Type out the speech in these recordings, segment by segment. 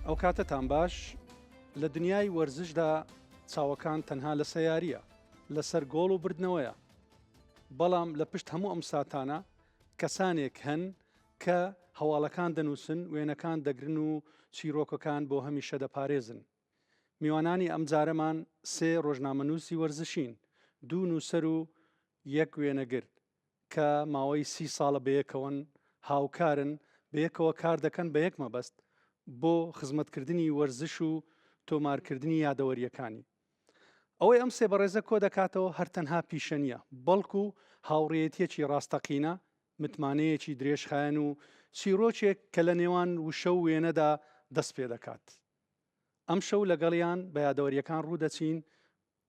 ئەو کاتەتان باش لە دنیای وەرزشدا چاوەکان تەنها لە سەیاریە لەسەر گۆڵ و بردنەوەیە بەڵام لە پشت هەموو ئەم ساتانە کەسانێک هەن کە هەواڵەکان دەنووسن وێنەکان دەگرن و چیرۆکەکان بۆ هەمیشە دەپارێزن میوانانی ئەمجارەمان سێ رۆژنامەنووسی وەرزشین، دوو نووسەر و یەک وێنەگر، کە ماوەی سی ساڵە بەیەکەوەن، هاوکارن، بەیەکەوە کاردەکەن بە یەک مەبەست، بۆ خزمەتکردنی وەرزش و تۆمارکردنی یادەوەرییەکانی. ئەوەی ئەم سێ بەڕێزە کۆدەکاتەوە هەر تەنها پیشە نییە، بەڵکو هاوڕێیەتییەکی راستەقینە، متمانەیەکی درێژخایەن و چیڕۆکێک کە لە نێوان وشە و وێنەدا دەستپێدەکات. ئەمشەو لەگەڵیان بە یادەوەرییەکان ڕوودەچین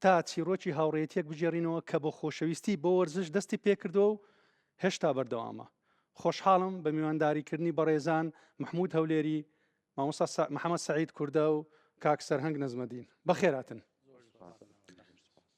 تا چیرۆکی هاوڕێتیەک بگێڕینەوە کە بۆ خۆشەویستی بۆ وەرزش دەستی پێکردەوە و هێشتا بەردەوامە خۆشحاڵم بە میوانداریکردنی بەڕێزان مححمود هەولێری مامۆستا محەممەد سعید کوردە و کاک سەرهنگ نەزمەدین بەخێراتن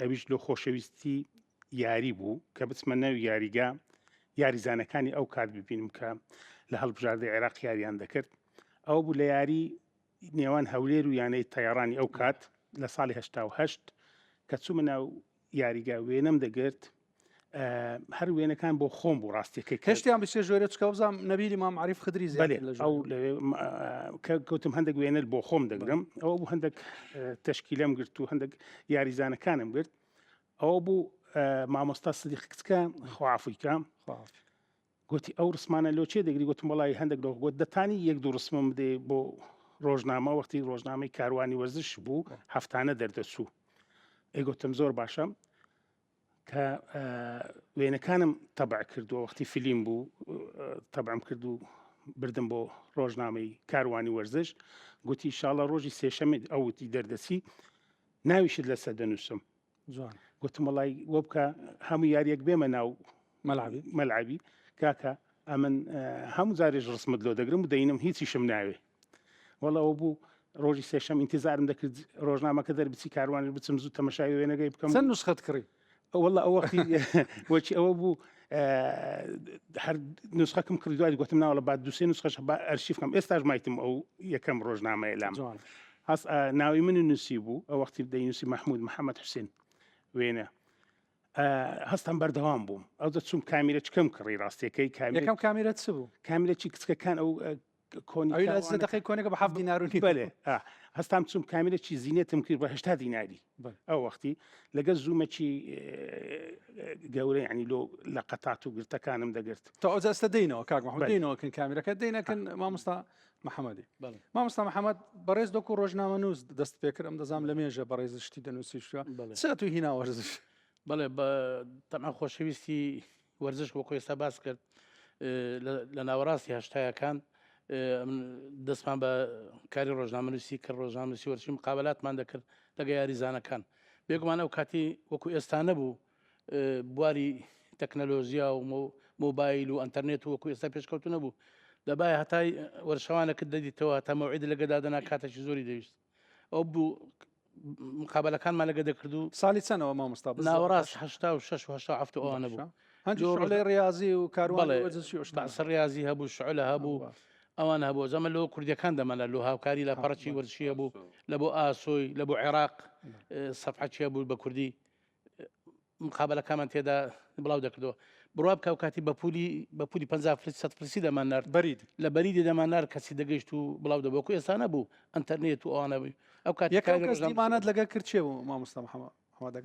ئەویش لۆ خۆشەویستی یاری بوو کە بچمە ناو یاریگا یاریزانەکانی ئەو کات ببینم کە لە هەڵبژاردە عێراق یاریان دەکرد ئەو بوو لە یاری نێوان هەولێر و یانەی تەیارانی ئەو کات لە ساڵی هشتا و هەشت کە چوومە ناو یاریگا وێنەم دەگرت هەر وێنەکان بۆ خۆم بوو ڕاستیەکەی کەشتیان بچێ ژۆرە چکە بزانام نەبیری مام عریف خدری زیێ ئەو کە کەوتم هەندێک وێنەر بۆ خۆم دەگرم ئەوە بوو هەندێک تشکیلم گرت و هەندێک یاریزانەکانم گرت ئەوە بوو مامۆستا سدیق کچکە خوافیکە گوتی ئەو ڕسمانە لۆ چێ دەگری گوتم وڵی هەندێک لۆ گوت دەتانی یەک دوو ڕسمم بدێ بۆ ڕۆژنامە وەختی ڕۆژنامەی کاروانی وەرزش بوو هەفتانە دەردەچوو ئەیگوتم زۆر باشە کە وێنەکانم تەبع کردووە وەختی فیلیم بوو تەبعم کرد و بردم بۆ ڕۆژنامەی کاروانی وەرزش گوتی شاڵە ڕۆژی سێشەمێت ئەوتی دەردەسی ناویشت لەسە دەنووسم جوان گوتم وڵی وە بکە هەموو یاریەک بێمە ناو مەلعبی مەلعبی کاکە ئەمن هەموو جارێش ڕسمت لۆ دەگرم و دەینم هیچیشم ناوێ وەڵا ئەوە بوو ڕۆژی سێشەم ئینتیزارم دەکرد ڕۆژنامەکە دەربچی کاروانش بچم زوو تەمەشای وێنەگەی بکەم چەند نوسخەت کڕی وەڵا ئەوە وەچی ئەوە بوو هەر نوسخەکەم کڕی دوای گوتم ناوەڵە بعد دوسێ نوسخەش بە ئەرشیفکەم ئێستاش مایتم ئەو یەکەم ڕۆژنامەیە لام جوان هەست ئا، ناوی من و نووسی بوو ئەو وەختی دەینوسی مححمود محەممەد حوسێن وێنە ئا، هەستم بەردەوام بووم ئەو دەچوم کامیرە چکەم کڕی ڕاستیەکەی کامی یەکەم کامیرە چ بوو کامیرەی کچکەکان ئەو ئە، کۆنی ئەوی لە سێ کاروانەکە. دەقەی کۆنەکە بە حەفت دینار و نیو. بەێ ئا، هەستام چوم کامێرەکی زینێتم کرد بە هەشتا دیناری بەێ. ئەو وەختی لەگەل زوومەکی گەورە یانی لۆ لە قەتات و گرتەکانم دەگرت. تۆ ئەوجا ئێستا دێینەوە کاک محمد بەێ. دێینەوە کن کامێرەکە دێینە کن مامۆستا محمدی. بەێ. مامۆستا محمد بەڕێز دۆکو رۆژنامەنووس دەست پێ کرد ئەم دەزانم لە مێژە بەڕێزت شتی دەنووسی شتوە بەێ. چ ئەتوی هینا وەرزش. بەێ بە تەنها خۆشەویستی. وەرزش وەکو ئێستا باس کرد لە ناوەڕاستی هەشتایەکان دەستمان بە کاری ڕۆژنامەنووسی کرد ڕۆژنامەسی وەرچی مقابلاتمان دەکرد لەگە یاریزانەکان بێگومان ئەو کاتی وەکو ئێستا نەبوو بواری تەکنەلۆژیا و مۆبایل و ئەتەرنێت وەکو ئێستا پێشکەوتو نەبوو دەبای هەتای وەرشەوانەکە دەدیتەوە تەمەعید لەگەدا دەنا کاتێکی زۆری دەویست ئەو بوو مقابلەکانمان لەگە دەکردو ساڵی چەنەوە مامۆستا ناوەڕاست هشتا و شش هشتا هەفت ئەوانە بوو هەندی ڕاضی و کاروانسە ڕاضی هەبوو شعلە هەبوو ئەوان هەبوو زەمە لەوە کوردەکان دەمەە لۆ هاوکاری لە پەڕچی وەرشیە بوو لە بۆ ئاسۆی لە بۆ عێراق سەفحچە بوو بە کوردی مقابەلەکامان تێدا بڵاو دەکردەوە بڕوا بکە و کاتی بە پولی بە پولی 50 فلس سە فلسی دەمان نرد بەرید لە بەریدی دەمان نار کەسی دەگەیشت و بڵاو دەبۆکو ئێسانە بوو ئەتەرنێت و ئەوانە بووی ئەو کاتیمانەت لەگە کرد چێ بوو مامۆستا محەمە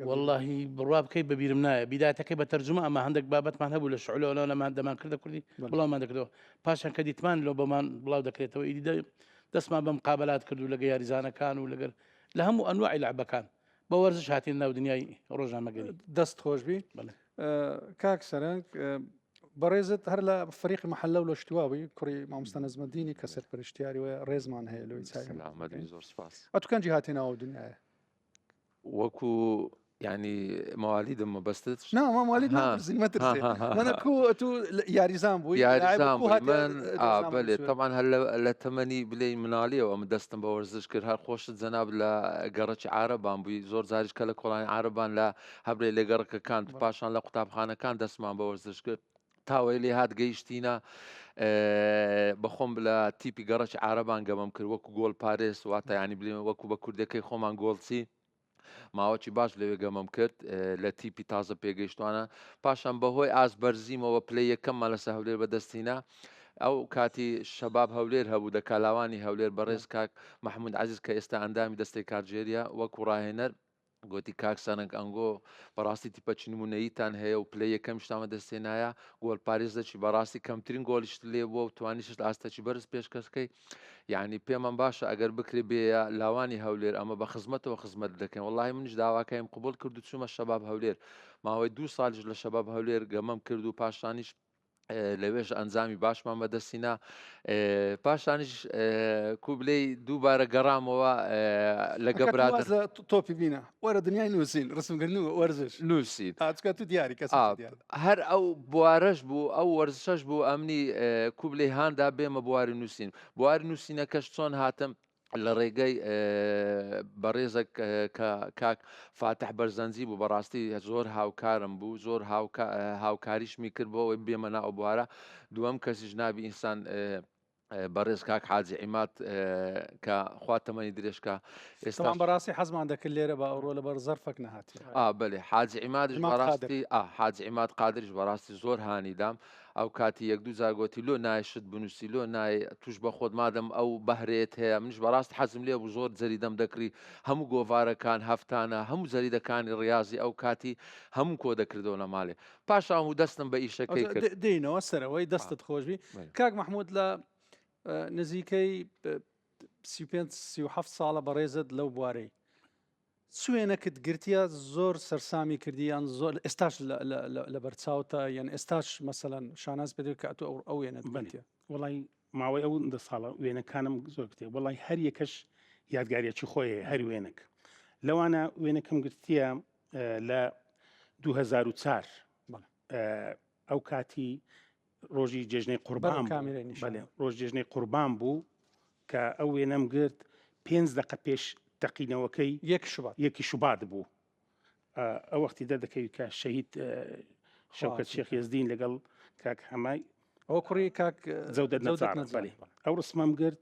واللهی بڕوا بکەیت بەبیرم نایە بیداتەکەی بە تەرجمە ئەمە هەندێک بابەتمان هەبوو لە شعلۆنەوە لەمان دەمان کردە کوردی بڵاومان دەکردەوە پاشان کە دیتمان لۆ بەمان بڵاو دەکرێتەوە ئیدی دەستمان بەم قابلات کردو لەگە یاریزانەکان و لەگەر لە هەموو ئەنوعی لەعبەکان بە وەرزش هاتین ناو دنیای ڕۆژنامەگەری دەست خۆش بی کاک سەرنگ بەڕێزت هەر لە فریق محل لە شتواوی کوڕی مامۆستا نزمەدینی کە سەر پرشتیاری وە ڕێزمان هەیە لەوەی چاکەنجی هاتی ناوە دنیاە وەکو ینی ماوالی دە مەبەستت ناوالی یاریزان بوو یاریزانێت تەمان هەر لە تەمەنی بلێ منالیەوە ئەم دەستم بە وەرزش کرد هەر خۆش جەناب لە گەڕەکی عارەبان بووی زۆر جاریش کە لە کۆڵانی عارەبان لە هەبرێ لە گەڕکەکان پاشان لە قوتابخانەکان دەستمان بە وەرزش کرد تاوەی لێ هاات گەیشتینە بەخۆم لە تیپی گەڕەکی عربان گەمەم کرد وەکو گۆل پارێز واتایانی بلێن وەکو بە کوردەکەی خۆمان گۆڵچی ماوەکی باش لەوێ گەمەم کرد لە تیپی تازە پێگەیشتوانە پاشان بەهۆی ئاس بەرزیمەوە پلی یەکەممان لەسە هەولێر بەدەستینا ئەو کاتی شەباب هەولێر هەبوو دە کالاوانی هەولێر بەڕێز کاک محمود عزیز کە ئێستا ئەندامی دەستەی کارگێریە وەکو ڕاهێنەر گوتی کاک سەرنگ ئەنگۆ بەڕاستی تیپە چنمونەیتان هەیە و پلە یەکەم شتامە دەستێنایە گۆل پارێزەکی بەڕاستی کەمترین گۆلیشت لێ بووە و توانیشت ئاستەکی بەرز پێشکەشکەی یعنی پێمان باشە ئەگەر بکرێ بێ لاوانی هەولێر ئەمە بە خزمەتەوە خزمەت دەکەین وڵی منیش داواکەیم قوبول کرد و چوومە شەباب هەولێر ماوەی دوو سالیش لە شەباب هەولێر گەمەم کرد و پاشانیش لەوێش ئەنجامی باشمان بەدەستینا پاشانیش کوبلەی دووبارە گەڕامەوە لەگە برا تۆپی بینە وەرە دنیای نووسین ڕسمگرن و وەرزش نووسین ئاچکە تو دیاری کەس هەر ئەو بوارەش بوو ئەو وەرزشەش بوو ئەمنی کوبلەی هاندا بێمە بواری نووسین بواری نووسینەکەش چۆن هاتم لە ڕێگەی بەڕێزەک کاک فاتح بەرزەنجی بوو بەڕاستی زۆر هاوکارم بوو زۆر هاوکاریشمی کرد بۆ ئەوەی بێمە ناو بوارە دووەم کەسی ژنابی ئینسان بەڕێز کاک حاجی عیمات کە خوا تەمەنی درێژکە ئێستا بەڕاستی حەزمان دەکرد لێرە بە ئەوڕۆ لە بەر زەرفەک نهاتی بەێ حاجی عیمادش بەڕاستی حاجی عیماد قادرش بەڕاستی زۆر هانیدام ئەو کاتی یەک دوو جار گۆتی لۆ نایێ شت بنووسی لۆ نایێ تووش بە خۆت مادەم ئەو بەهرەیەت هەیە منیش بەڕاست حەزم لێ بوو زۆر جەریدەم دەکڕی هەموو گۆڤارەکان هەفتانە هەموو جەریدەکانی ڕیازی ئەو کاتی هەمووم کۆ دەکردەوە لە مالێ پاش ئەوەموو دەستم بە ئیشەکەی کرد. دێینەوە سەرەوەی دەستت خۆش بی کاک مەحموود لە نزیکەی سی و پێنج سی و حەفت ساڵە بەڕێزت لەو بوارەی چ وێنەکت گرتیە زۆر سەرسامی کردی یان زۆر ئێستاش لەبەر چاوتە یان ئێستاش مەسەەن شاناز پێ کە ئەتو ئەو وێنەت بنێ وڵی ماوەی ئەو دە ساڵە وێنەکانم زۆر کتێ وڵی هەر یەکەش یادگاریەکی خۆی هەر وێنک لەوانە وێنەکەم گرتیە لە 2004 ئەو کاتی ڕۆژی جێژنەی قوربان ڕۆژ جێژنەی قوربان بوو کە ئەو وێنەم گرت پێنج دقە پێش تەقینەوەکەی یەک شوبات یەکی شوبات بوو ئەو وەختی دەردەکەوی کە شەهید شەکەت شێخ ێزدین لەگەڵ کاک هەمای ئەو کوڕی کاک زەودەت نەزار ئەو ڕسمم گرت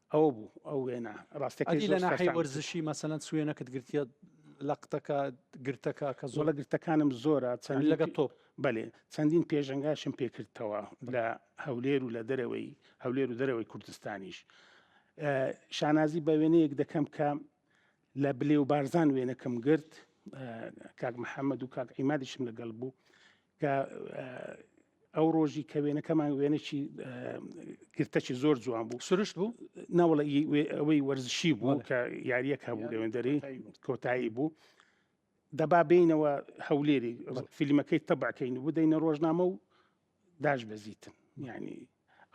ئەوە بوو ئەو وێنە ڕاستەکەی ئەدی لە زۆر ناحەی سەرسام وەرزشی مەسەلەن سوێنەکەت گرتیە لە قتەکە گرتەکە کە زۆڵە زۆڵە گرتەکانم زۆرە چەند لەگە تۆپ بەێ چەندین پێشەنگاشم پێکردتەوە لە هەولێر و لە دەرەوەی هەولێر و دەرەوەی کوردستانیش ئە، شانازی بە وێنەیەک دەکەم کە لە بلێ و بارزان وێنەکەم گرت ئە، کاک محەممەد و کاک عیمادیشم لەگەڵ بوو کە ئە، ئەو ڕۆژی کە وێنەکەمان وێنەی گرتەکی زۆر جوان بوو سروشت بوو ناوڵە ئەوەی وەرزشی بوو کە یاریەک هەبوو لەوێندەری کۆتایی بوو دەبا بینەوە هەولێری فیلمەکەی تەبعکەین و بدەینە ڕۆژنامە و داش بەزیتن ینی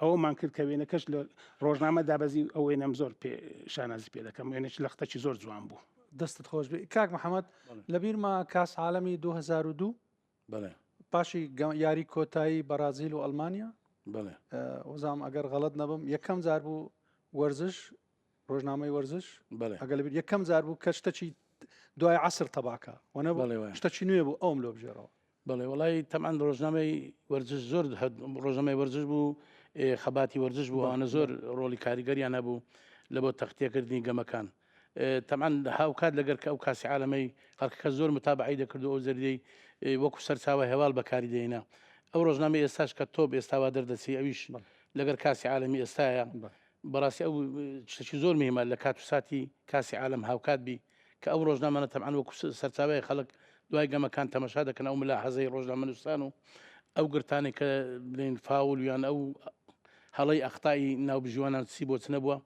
ئەومان کرد کە وێنەکەش لە ڕۆژنامە دابەزی ئەوەی نەم زۆر پێ شانازی پێ دەکەم وێنەش لەختەکی زۆر جوان بوو دەستت خۆش بێ کاک محەممەد لەبیرمە کاس عاالمی 2002 بەڵێ پاشی یاری کۆتایی بەرازیل و ئەلمانیا بەڵێ وزام ئەگەر غەڵت نەبم یەکەم جار بوو وەرزش ڕۆژنامەی وەرزش بەڵێ ئەگەل یەکەم جار بوو کە شتەچی دوای عسر تەباکە وەە بەڵێ شتەچی نوێ بوو ئەوم لۆ بژێرەوە بەڵێ وڵی تەمان ڕۆژنامەی وەرزش زۆر ڕۆژەمەی وەرزش بوو خەباتی وەرزش بوو ئەوانە زۆر ڕۆڵی کاریگەریان هەبوو لە بۆ تەختێکردنی گەمەکان تەبعەن هاوکات لەگەر کە ئەو کاسی عالەمەی خەڵکەکە زۆر متابعەی دەکرد و ئەو زەریدەی وەکو سەرچاوە هێواڵ بەکاری دێنا ئەو ڕۆژنامە ئێستاش کە تۆپ ئێستاوا دەردەچی ئەویش لەگەر کاسی عالەمی ئێستاە بەڕاستی ئەو شتێکی زۆر مهمە لە کات و ساتی کاسی عالم هاوکات بی کە ئەو ڕۆژنامەە تەبعەن وەکو سەرچاوی خەڵک دوای گەمەکان تەمەشا دەکەن ئەو ملا حەزەی ڕۆژنامەنووسان و ئەو گرتانی کە بلین فاول یان ئەو هەڵی ئەختایی ناوبژیوانان سی بۆچ نەبووە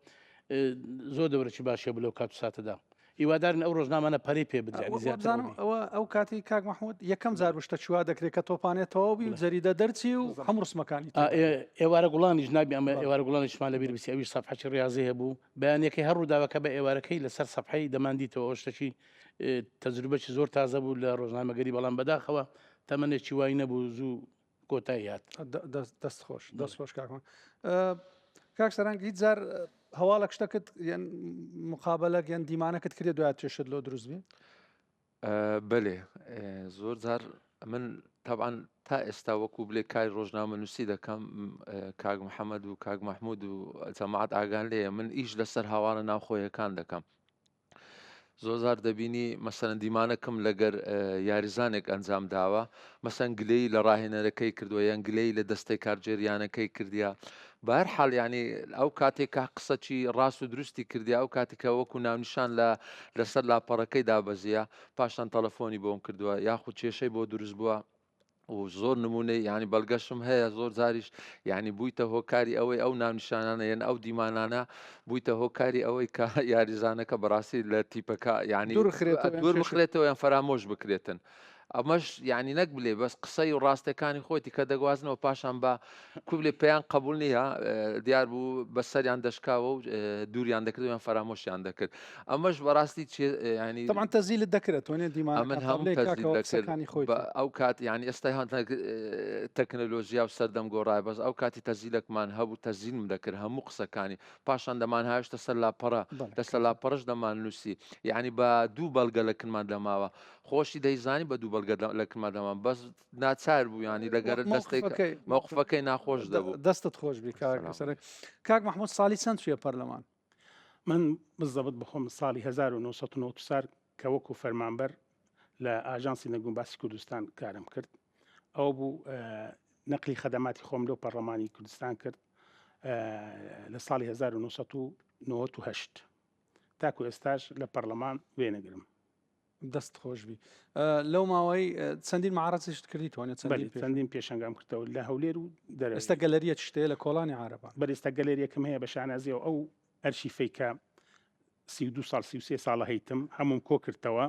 زۆر دەورەی باشە بلو کات ساتەدا هیوادارن ئەو ڕۆژنامانە پەری پێ بدرێنزانم ئەوە ئەو کاتی کاک مححمود یەکەم جار بشتە چوا دەکرێت کە تۆپانێت تەواو بی جەریدە دەرچی و هەم ڕسمەکانی ئێوارە گوڵانیش نابی ئەمە ئێوارە گوڵانیشمان لەبیر بسی ئەوی سەفحەی ڕاضی هەبوو بەیانەکەی هەر ڕووداوەکە بە ئێوارەکەی لەسەر سەفحەی دەماندیتەوە ئەوشتەکی تەجروبەی زۆر تازە بوو لە ڕۆژنامەگەری بەڵام بەداخەوە تەمەێکی وای نەبوو زوو کۆتایی هات دەست خۆش دەست خۆش کاکم کاک سەرنگ هیچ جار هەواڵە شتەکەت یان مقابلەک یان دیمانەکەت کرێ دوات چێشت لۆ دروست بێ بەێ زۆر جار من تاان تا ئێستا وەکو بلێ کاری ڕۆژنامە نووسی دەکەم کاک محەممەد و کاک مححمود و جەماعات ئاگان لێە من ئیش لەسەر هاوارە ناوخۆیەکان دەکەم زۆزار دەبینی مەسەن دیمانەکەم لەگەر یاریزانێک ئەنجام داوە مەسەن گلەی لە ڕاهێنەرەکەی کردووە یان گلەی لە دەستەی کارجێریانەکەی کردیا بار حالیانی ئەو کاتێکا قسەکی ڕاست و دروستی کردی ئەو کاتێکە وەکو ناونیشان لە لەسەر لاپەڕەکەی دابەزیە پاشان تەلەفۆنی بۆم کردووە یاخود کێشەی بۆ دروست بووە و زۆر نمونەی ینی بەڵگەشم هەیە زۆر جاریش ینی بوویتە هۆکاری ئەوەی ئەو ناونیشانانە یەن ئەو دیمانانە بوویتە هۆکاری ئەوەی کە یاریزانەکە بەڕاستی لە تیپەکە ینی دوور بخرێتەوە یان فەرامۆش بکرێتن. ئەمەش ینی نەک بلێ بەس قسەی و ڕاستەکانی خۆتی کە دەگوازنەوە پاشان بە کوبلێ پێیان قەبوول نییە، دیار بوو بە سەریان دەشکاوە و دووریان دەکرد و یان فەرامۆشیان دەکرد. ئەمەش بەڕاستی چێ یانی. تەبعەن تەزیلت دەکرد ئەتوانێ دیمانەکان ئەمن هەموو تەزیل دەکرد. قسەکانی خۆی کرد. بە ئەو کات یانی ئێستا هەن تەکنەلۆژیا و سەردەم گۆڕایە بەس ئەو کاتی تەزیلەکمان هەبوو تەزیلم دەکرد هەموو قسەکانی پاشان دەمانهاوێشتە سەر لاپەڕە لەسەر لاپەڕەش دەماننووسی یانی بە دوو بەڵگە لە کنمان دەماوە خۆشی دەیزانی بە دوو بەڵگە لە کنمان دەماوە بەس ناچار بوو ینی لەگەر دەستەکەی مەوقفەکەی ناخۆش دەبوو دەستت خۆش بی کاکەسەرک کاک مححمود ساڵی چەند توێ پەرلەمان من بزەبت بخۆم ساڵی 1990 سار کە وەکو فەرمانبەر لە ئاژانسی نەگوم باسی کوردستان کارم کرد ئەو بوو نەقلی خەدەماتی خۆم لەو پەرلەمانی کوردستان کرد لە ساڵی 1990 تاکو ئێستاش لە پەرلەمان وێنەگرم دەست خۆشبی لەو ماوەی چەندین معارەتیشت کردی توانێت چەندین پێشنگام کردەوە لە هەولێر و دەرستا گەلەریە شتێ لە کۆڵانی عربان بەرێستا گەلەریەکەم هەیە بە شانازیە و ئەو ئەرشی فیکە سی دو سال سی سێ ساڵە هەیتم هەموم کۆ کردەوە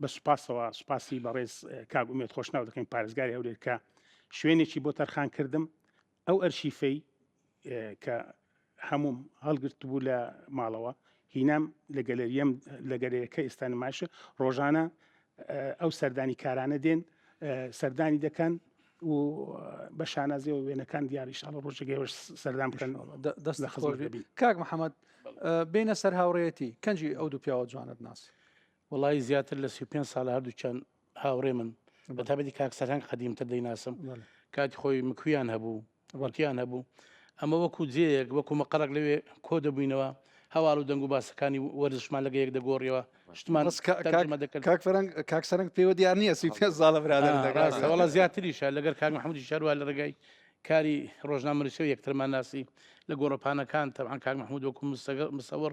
بە سوپاسەوە سوپاسی بەڕێز کاگومێت خۆشناو دەکەین پارێزگاری هەولێر کە شوێنێکی بۆ تەرخان کردم ئەو ئەرشیفەی کە هەمووم هەڵگرتبوو لە ماڵەوە هینام لە گەلەریەم لە گەلەرەکە ئێستا نمایشە ڕۆژانە ئەو سەردانی کارانە دێن سەردانی دەکەن و بە شانازیەوە وێنەکان دیاریشاڵە ڕۆژەگەێش سەردان بکەن دەست لە خزۆر دەبی کاک محەممەد بینە سەر هاوڕێتی کەنجی ئەو دوو پیاوە جوانت ناسی وەڵایی زیاتر لە سی و پێنج ساڵە هەردووکیان هاوڕێمن بە تابەتی کاک سەرهەنگ قەدیمتر دەیناسم کاتی خۆی مکویان هەبوو وەڵکیان هەبوو ئەمە وەکو جێیەک وەکو مەقەڕک لەوێ کۆ دەبووینەوە هەواڵ و دەنگ و باسەکانی وەرزشمان لەگە یەک دەگۆڕیەوە شتمان بەس کا- تەرجمە کاک دەکرد کاک فەرەنگ کاک سەرنگ پێوە دیار نییە سی و پێنج ساڵە برادەر آه، دەکات. ڕاستە وەڵا زیاتریشە لەگەر کاک محمودی شەروا لە ڕێگای کاری ڕۆژنامەنووسیەوە یەکترمان ناسی لە گۆڕەپانەکان تەبعەن کاک محمود وەکو مستەگە- مستەوەڕ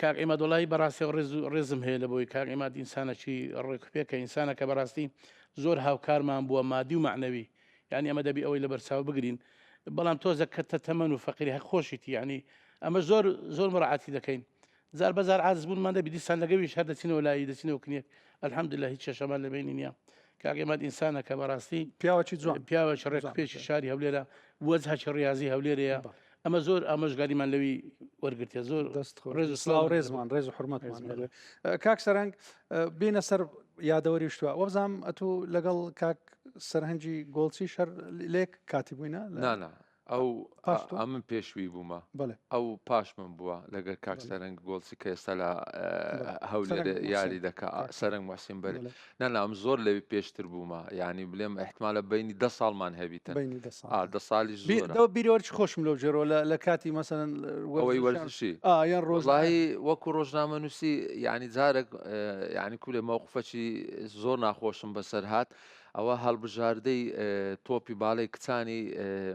کاک عیماد وەڵایی بەڕاستەوە ڕێز و ڕێزم هەیە لە بۆی کاک عیماد ئینسانەکی ڕێکوپێکە ئینسانەکە بەڕاستی زۆر هاوکارمان بووە مادی و معنەوی یعنی ئەمە دەبی ئەوەی لە بەرچاو بگرین بەڵام تۆزە کەتە تەمەن و فەقیری هەق خۆشیتی یعنی ئەمە زۆر زۆر مڕعاتی دەکەین زار بەزار عاز بوونمان دەبی دیسان لەگەویش هەر دەچینەوە لای دەچینەوە کنیەک الحمد لله هیچ کێشەمان لە بینی نییە کاک عیماد ئینسانەکە بەڕاستی پیاوەکی جوان پیاوەکی ڕێک پێشی شاری هەولێرە وەجهکی ڕاضی هەولێرەیە ئەمە زۆر ئامۆژگاریمان لەوی وەرگتە زۆر دەست ڕێز و سلااو ڕێزمان ڕێز و حرمەت کاک سەرنگ بینە سەر یادەوەری شتوە وەبزانام ئەتو لەگەڵ کاک سەرهەنجی گۆڵچی شەر لێک کاتی بووینە نانا ئەو ئەمن پێشوی بوومە ئەو پاش من بووە لەگەر کاک سەرنگ گۆڵچی کە ئێستا لە هەولێ یاری دەکە سەرنگ مەسیم بەر نا نا ئەم زۆر لەوی پێشتر بوومە یعنی بلێم احتمالە بینی دە ساڵمان هەبیتن بینی دە ساڵ ئا دە ساڵیش بی زۆرە دەو بیرەوە چ خۆشم لەو جۆرەوە لە لە کاتی مەسەلەن ئەوەی وەرزشان وەرزشی ئا یان ڕۆژ وەڵاهی وەکو ڕۆژنامە نووسی یعنی جارێک اه، یعنی کولێ مەوقفەکی زۆر ناخۆشم بەسەر هات ئەوە هەڵبژاردەی اه، تۆپی باڵەی کچانی اه،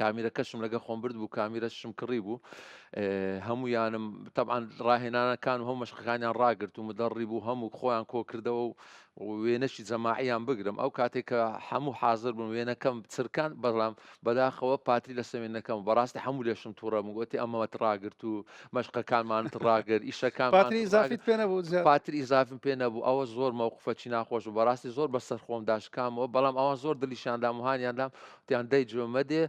کامیرەکەشم لەگە خۆم برد بوو کامیرەشم کڕی بوو هەمویانم تەعاان ڕاهێنانەکان و هەم مەشقەکانیان ڕاگرت و مدەڕی بوو هەموو خۆیان کۆکردەوە و وێنەشی جەماعیان بگرم ئەو کاتێک کە هەموو حاضر بوون وێنەکەم چرکان بەڵام بەداخەوە پاتی لە سەوێنەکەم بەڕاستی هەموو لێشم تووڕە مگوتی ئەمەوەت ڕاگرت و مەشقەکانمانت ڕاگر ئیشەکان پاتری زافیت پێ نەبوو پاتری ئیزافم پێ نەبوو ئەوە زۆر مەوقفەچی ناخۆش و بەڕاستی زۆر بەسەر خۆم داشکامەوە بەڵام ئەوان زۆر دلیشاندام وهانیاندام وتیان دەی جۆ مەدێ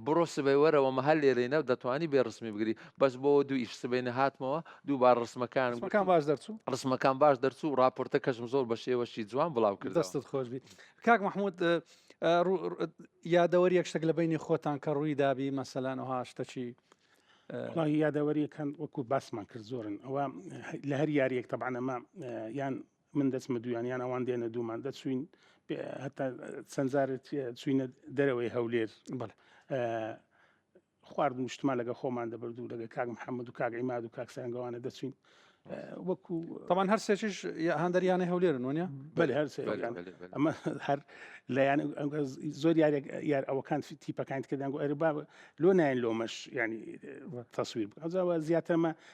بڕۆ سبەی وەرەوە مە هەر لێرەینە دەتوانی بێ ڕسمی بگری بەس بۆ دوو ئیش سبەینە هاتمەوە دووبار ڕسمەکان ڕسمەکان باش دەرچوو ڕسمەکان باش دەرچوو و راپۆرتە کەشم زۆر بە شێوەشی جوان بڵاو کرد دەستت خۆش بیت کاک مححمود یادەوەری یەکشتێک لە بینی خۆتان کە ڕووی دابی مەسەلان و هاشتەچی یادەوەریەکان وەکو باسمان کرد زۆرن ئەوە لە هەر یاریەک تەبانەمە یان من دەچمە دویان یان ئەوان دێنە دوومان دەچوین هەتا چەند جارت چوینە دەرەوەی هەولێر بڵێ خوارد مشتمان لەگە خۆمان دەبرد و لەگە کاک محەممەد و کاک ئیماد و کاکسەنگەوانە دەچین وەکو تەمان هەر سێکیش هەندەریانە هەولێرن وە بەێ هەر ئەمە هەر لایەن زۆر یارێک یار ئەوەکان تیپەکان کردن و ئەربا لۆ نایەن لۆمەش ینی تەسویر بکەزەوە زیاترمە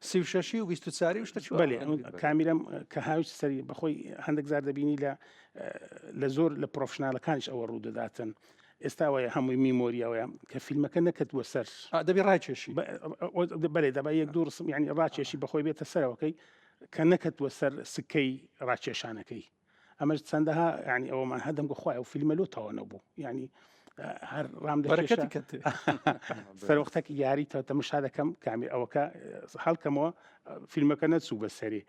سی و شەشی و بیست و چاری و شتە چوار. بەلێ ئەم کامیرەم کە هاویشت سەری بەخۆی هەندێک زار دەبینی لە لە زۆر لە پرۆفشنالەکانش ئەوە ڕوو دەداتن ئێستا وایە هەمووی میمۆریاوەیە کە فیلمەکە نەکردووە سەر آه، دەبی ڕاکێشی ب- ئەو- ئەو- بەلێ دەبا یەک دوو ڕسم ینی ڕاکێشی بەخۆی بێتە سەرەوەکەی کە نەکەتووە سەر سکەی ڕاکێشانەکەی ئەمەش چەندەها ینی ئەوەمان هەدەم گو خخوای و فیلمە لۆ تاوە نەبوو ینی هەر ڕام دەکەت سەرۆختەکی یاری تەتە مشا دەکەم کامی ئەوەکە هەڵکەمەوە فیلمەکە نەچوو بە سەری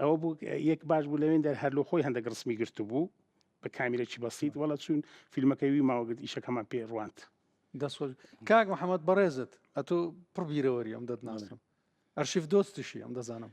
ئەوە بوو یەک باش بوو لەوێن دەر هەر لۆ خۆی هەندێک ڕسمی گرتو بوو بە کامیرەی بەسییت وڵە چوون فیلمەکەی وی ماوەگرت ئیشەکەمان پێ ڕوانت دەسۆل کاک محەممەد بەڕێزت ئەتۆ پڕبیرەوەری ئەم دەتناسم ئەرشیف دۆستیشی ئەم دەزانم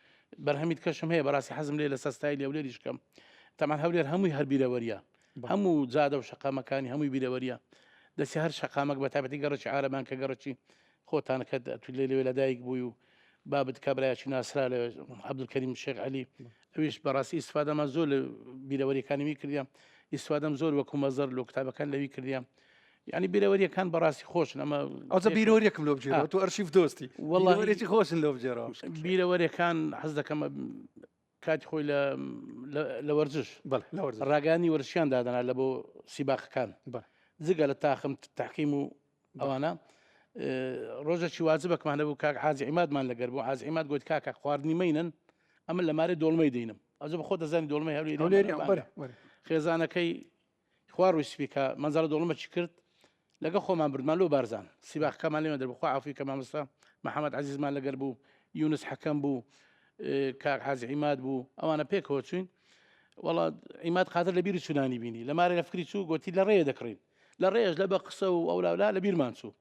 بەرهەمیت کەشم هەیە بەڕاستی حەزم لێ لەسەر ستایلی هەولێریش بکەم تەمان هەولێر هەمووی هەر بیرەوەریە هەموو جادە و شەقامەکانی هەمووی بیرەوەریە دەستی هەر شەقامەک بە تابەتی گەڕکی عربان کە گەڕکی خۆتان کە تو لێ لەوێ لەدایک بووی و بابت کابراایکی ناسرا لە عبدولکەریم شێخ علی ئەویش بەڕاستی ئیسفادەمان زۆر لە بیرەوەریەکانی وی کردیان ئیسوادەم زۆر وەکو مەزەر لۆ کتابەکان لەوی کردیان یعنی بیرەوەریەکان بەڕاستی خۆشن ئەمە ئەوزە بیرۆریەکم لۆ بجێرەوە تۆ ئەرشیف دۆستی وڵێکی خۆشن لۆ بجێرەوە بیرەوەریەکان حەز دەکەمە کاتی خۆی لە وەرزش ڕاگانی وەرشیان دادەنا لە بۆ سیباخەکان جگە لە تاخم تاقیم و ئەوانە ڕۆژەکی واجبەکمانە بوو کاک حاجی عیمادمان لەگەر بوو حاج عیماد گوت کاکە خواردنی مینن ئەمە لە مارە دۆڵمەی دەینم ئەزە بە خۆ دەزانانی دۆڵمەی هەولێری خێزانەکەی خوا ڕووی سپی کا مەنزەرە دۆڵمە چی کرد لەگە خۆمان بردمان لۆ بارزان سیباخ کەمان لێمە دەربخوا عفوی کە مامۆستا محەممەد عزیزمان لەگەر بوو یونس حەکەم بوو کاک حاز عیماد بوو ئەوانە پێکەوە چوین وڵا عیماد قاتر لە بیری چونانی بینی لە مارە لە فکری چوو گوتی لە ڕێ دەکڕین لە ڕێژ لە بە قسە و ئەولاولا لە بیرمان چوو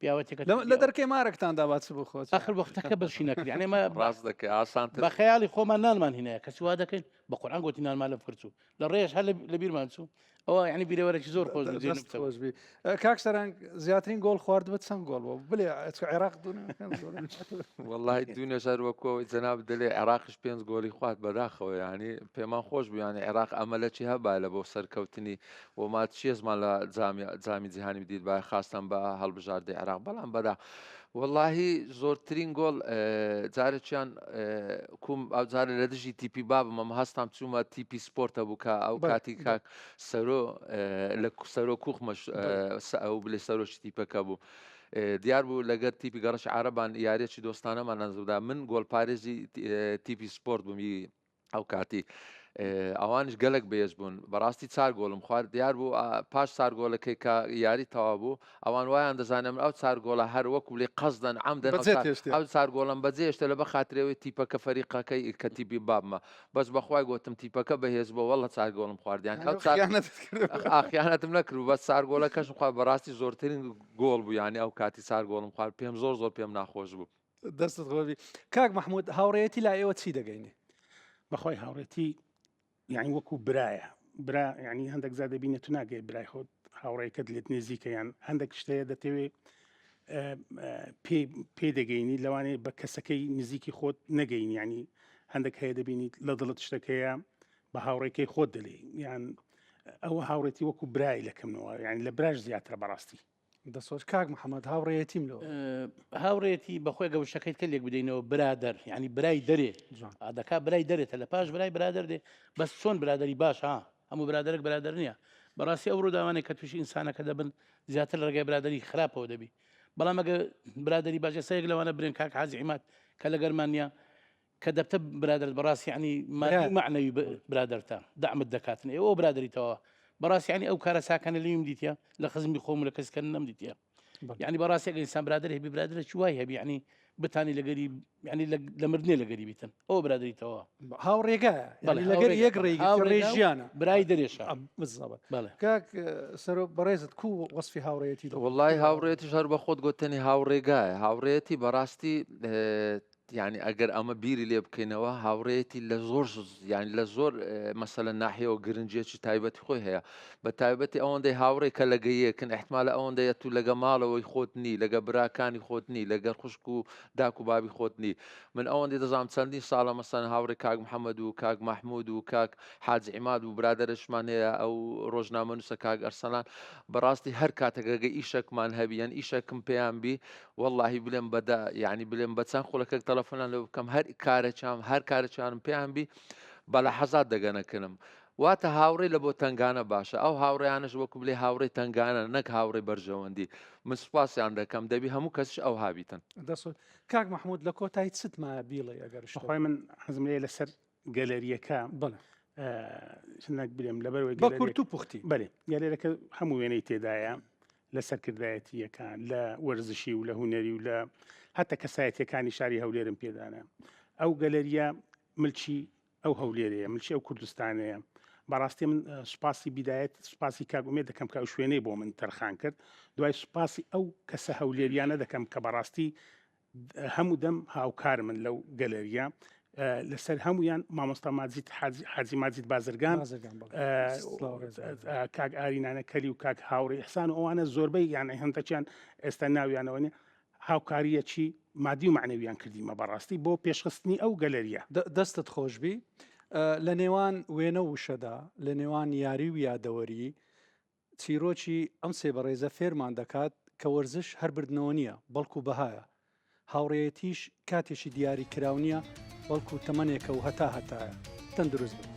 پیاوەتێکە لە دەرکەی مارەکتان دا باچ بۆ خۆت ئەخر وەختەکە بەشی نەکرد ئەمە ڕاست دەکەی ئاسان بە خەیاڵی خۆمان نانمان هینەیە کە سووا دەکەین بە قورآان گوتی نانمان لە فرچوو لە ڕێژ هەر لە بیرمان چوو ئەوە ینی بیرەوەرەی زۆر خۆش خۆشبی کاک سەرنگ زیاترین گۆڵ خوارد بە چەند گۆڵ بۆ بلێ عێراق وڵی دو نەژار وەکۆی جەناب دەلێ عێراقش پێنج گۆلی خوارد بەداخەوە ینی پێمان خۆش بیانە عێراق ئەمە لە چی هەبا لە بۆ سەرکەوتنی و مات چیێزمان لە جامی جامی جیهانی بدیت با خاستان بە هەڵبژاردەی عێراق بەڵام بەدا واللهی زۆرترین گۆڵ جارێکیان کوم ئەو جارە لە دژی تیپی بابم ئەم هەستام چوومە تیپی سپۆرتە بوو کە ئەو بەڵێ، کاتی بەڵێ. کاک سەرۆ لە سەرۆ کوخمەش بەڵێ. ئەو بلێ سەرۆکی تیپەکە بوو دیار بوو لەگەر تیپی گەڕش عربان یاریەکی دۆستانەمان ئەنجامدا من گۆلپارێزی تیپی سپۆرت بوومی ئەو کاتی ئەوانش گەلک بێز بوون بەڕاستی چار گۆڵم خوارد دیار بوو پاش سار گۆلەکەی کە یاری تەوا بوو ئەوان وایان دەزانم ئەو چار گۆڵە هەر وەکو لێ قەزدەن ئەم دەن ئەو چار گۆڵم بەجێشتە لە بە خااترەوەی تیپەکە فەریقەکەی کە تیبی بابمە بەس بەخوای گوتم تیپەکە بەهێز بۆ وەڵە چار گۆڵم خواردیان ئاخیانەتم نەکرو بە سار گۆلەکەشم خوا بەڕاستی زۆرترین گۆڵ بوو یانی ئەو کاتی سار گۆڵم خوارد پێم زۆر زۆر پێم ناخۆش بوو دەستت خۆبی کاک مححمود هاوڕێتی لا ئێوە چی دەگەینێ بەخوای هاوڕێتی یعنی وەکو برایە برا ینی هەندێک زیاد دەبینێت تو ناگەی برای خۆت هاوڕێکت لێت نێزیکەیان هەندێک شتەیە دەتەوێ پێ دەگەینی لەوانێ بە کەسەکەی نزیکی خۆت نەگەین ینی هەندێک هەیە دەبینیت لە دڵت شتەکەیە بە هاوڕێکەی خۆت دەلی یان ئەوە هاوڕێتی وەکو برای لەکەمەوە یان لە براش زیاترە بەڕاستی دەسۆت کاک محەممەد هاوڕێتیم لۆ هاوڕێتی بەخۆی گە وشەکەیت کە لێک بدەینەوە برادەر ینی برای دەرێ ئادەکا برای دەرێتە لە پاش برای برادەر دێ بەس چۆن برادری باش ها هەموو برادێک برادر نییە بەڕاستی ئەو ڕووداوانێک کە تووشی ئینسانەکە دەبن زیاتر لە ڕێگای برادری خراپەوە دەبی بەڵام ئەگە برادری باش ئێسەیەک لەوانە برێن کاک حازیمات کە لەگەرمانیا کە دەبتە برادەرت بەڕاست یعنی مادی و مەعنەوی برادەرتە دەعمت دەکاتن ئێ ئەوە برادەریتەوە بەڕاست یعنی ئەو کارە چاکانە لێیم دیتە لە خزمی خۆم لە کەسکە نەم دیتە یعنی بەڕاست یەک ئینسان برادر هەبی برادرە چی وای هەبی یعنی بتانی لەگەری یعنی لە مردنێ لەگەری بیتن ئەو برادریتەوە هاوڕێگە لەگەر یەک ڕێژیانە برای دەرێشە کاک سەرۆ بەڕێزت کو وەصفی هاوڕێتی وڵی هاوڕێتیش هەر بە خۆت گوتنی هاوڕێگایە هاوڕێتی بەڕاستی یانی ئەگەر ئەمە بیری لێ بکەینەوە هاوڕێتی لە زۆر یانی لە زۆر مەسەلە ناحیەوە گرنجێکی تایبەتی خۆی هەیە بە تایبەتی ئەوەندەی هاوڕێ کە لەگەیەکن احتمالە ئەوەندەیە تو لەگە ماڵەوەی خۆت نی لەگە براکانی خۆت نی لەگەر خوشک و داک و بابی خۆت نی من ئەوەندی دەزانام چەندین ساڵە مەسەن هاوڕێ کاک محەممەد و کاک مححمود و کاک حاج عیماد و برادرشمان هەیە ئەو ڕۆژنامە نووسە کاک ئەرسەلان بەڕاستی هەر کاتەکەگە ئیشەکمان هەبیان ئیشەکم پێیان بی وەڵاهی بلێم بە دە یعنی بلێم بە چەند خولەکەک تەلەفۆنان لێ بکەم هەر کارە چام هەر کارە چوانم پێیان بی بە لە حەزات دەگەنەکردم واتە هاوڕێ لە بۆ تنگانە باشە ئەو هاوڕیانش وەکو بلێ هاوڕێ تنگانە نەک هاوڕێ بەرژەوەندی من سوپاسیان دەکەم دەبی هەموو کەسش ئەو هابیتن دەسڵ کاک مححمود لە کۆتای چتمایە بیڵێ ئەگەر شت. بەخوای من حەزم لێیە لەسەر گەلەریەکە چنەک بێم لەبەر بە کورت و پوختی بەێ گەلێرەکە هەموو وێنەی تێدایە لە سەرکردایەتیەکان لە وەرزشی و لە هوەری و لە هەتە کەسایەتەکانی شاری هەولێرم پێدانە ئەو گەلەریە ملکی ئەو هەولێرەیە ملکی ئەو کوردستانەیە بەڕاستی من سوپاسی بدایەت سوپاسی کاگومێ دەکەم کە ئەو شوێنەی بۆ من تەرخان کرد دوای سوپاسی ئەو کەسە هەولێریانە دەکەم کە بەڕاستی هەموو دەم هاوکار من لەو گەلەریە لەسەر هەمویان مامۆستا ماجید حاجی ماجید بازرگان کاک ئارینانە کەلی و کاک هاوڕی حسان و ئەوانە زۆربەی یان هەندەکیان ئێستا ناویانەوەنێ هاوکاریەکی مادی و معنەویان کردیمە بەڕاستی بۆ پێشخستنی ئەو گەلەریە دەستت خۆشببی لە نێوان وێنە وشەدا لە نێوان یاری و یادەوەری چیرۆکی ئەم سێ بەڕێزە فێرمان دەکات کە وەرزش هەر بردنەوە نییە، بەڵکو بەهایە. هاوڕێیەتیش کاتێکی دیاری کراو نییە، بەڵکو تەمەنێکە و هەتا هەتایە. تەندروست بن.